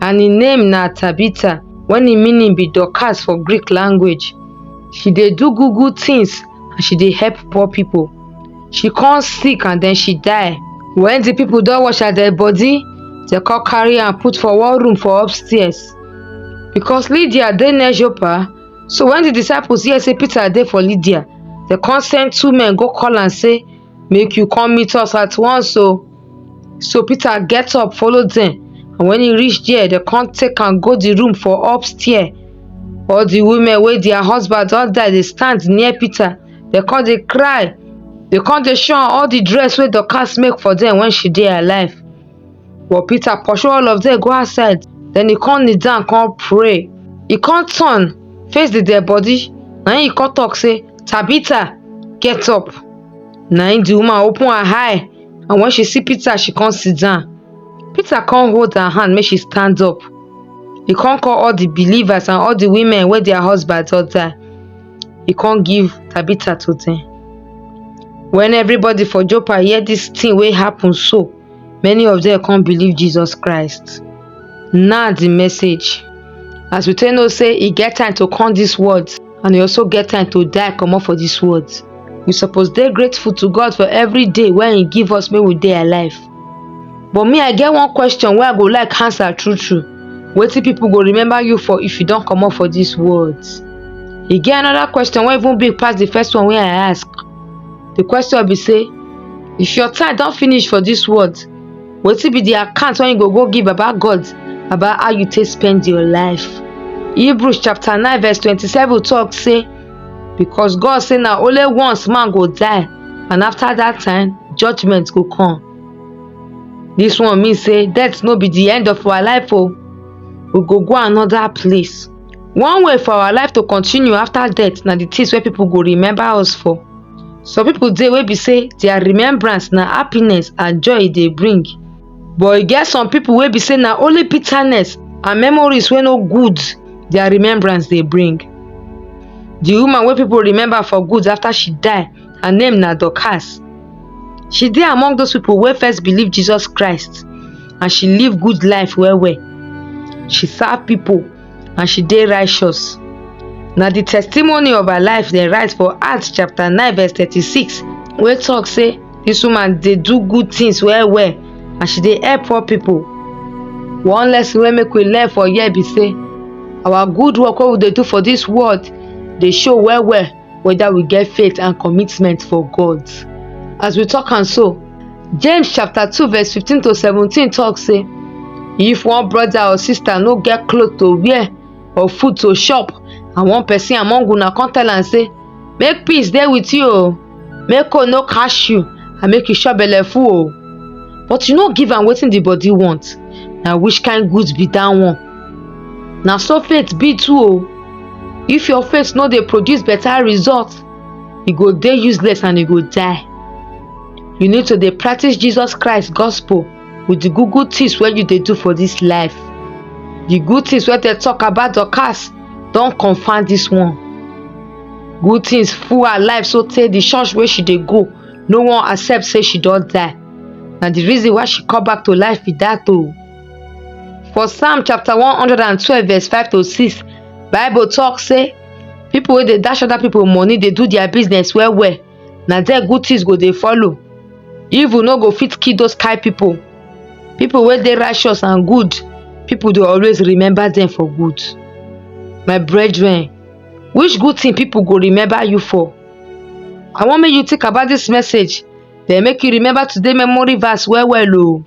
and im name na tabitha wey im meaning be dorcas for greek language she dey do good good tins and she dey help poor pipo she come sick and den she die wen di pipo don wash her dead bodi dem come carry am put for one room for upstairs becos lydia dey near joppa so wen di disciples hear say peter dey for lydia dem come send two men go call am say make you come meet us at once o so peter get up follow dem and when he reach there dem come take am go the room for upstairs all the women wey their husband don die dey stand near peter dem come dey cry dem come dey show am all the dress wey dorcas make for dem when she dey alive But Peter pursue all of them go outside. Then he come kneel down, come pray. He come turn, face the dead body. Now he come talk, say, Tabitha, get up. Now the woman open her eye, and when she see Peter, she come sit down. Peter come hold her hand, make she stand up. He come call all the believers and all the women where their husbands all die. He come give Tabitha to them. When everybody for Joppa hear this thing wey happen so, many of dem come believe Jesus Christ. Now the message. As we take know say e get time to come this world and e also get time to die comot for this world. We suppose dey grateful to God for every day wey e give us make we dey alive. But me I get one question wey I go like answer true true. Wetin people go remember you for if you don comot for this world? E get another question wey even big pass the first one wey I ask. the question be say if your time don finish for this world wetin be the account wey you go go give baba god about how you take spend your life hebrews chapter 9 verse 27 talk say because god say na only once man go die and after that time judgment go come this one mean say death no be the end of our life o we go go another place One way for our life to continue after death na the things wey people go remember us for. Some people dey wey be say their remembrance na happiness and joy e dey bring. But e get some people wey be say na only bitterness and memories wey no good their remembrance dey bring. The woman wey people remember for good after she die, her name na Dorcas. She dey among those people wey first believe Jesus Christ. and she live good life well well. She serve pipu and she dey righteous. Na the testimony of her life dem write for Acts chapter nine verse thirty-six wey talk say this woman dey do good things well well and she dey help poor pipu. One lesson wey make we learn for here be say our good work wey we dey do for this world dey show well well whether we get faith and commitment for God. As we talk and so, James chapter 2 verse 15 to 17 talk say, If one brother or sister no get cloth to wear or food to chop, and one person among una come tell am say, Make peace dey with you o, make cold no catch you, and make you chop belle full o. But you no give am wetin the body want, na which kind goods be that one? na so faith be too o if your faith no dey produce better result e go dey useless and e go die you need to dey practice jesus christ gospel with the good good things wey you dey do for this life the good things wey dey talk about dorcas don confirm this one good things full her life so tey the church wey she dey go no wan accept say she don die na the reason why she come back to life be that o. For Psalm chapter 112 verse 5 to 6, Bible talk say people wey dey dash other people money dey do their business well well, na there good things go dey follow. Evil no go fit kill those kind people. People wey dey righteous and good, people dey always remember them for good. My brethren, which good thing people go remember you for? I wan make you think about this message, then make you remember today memory verse well well o.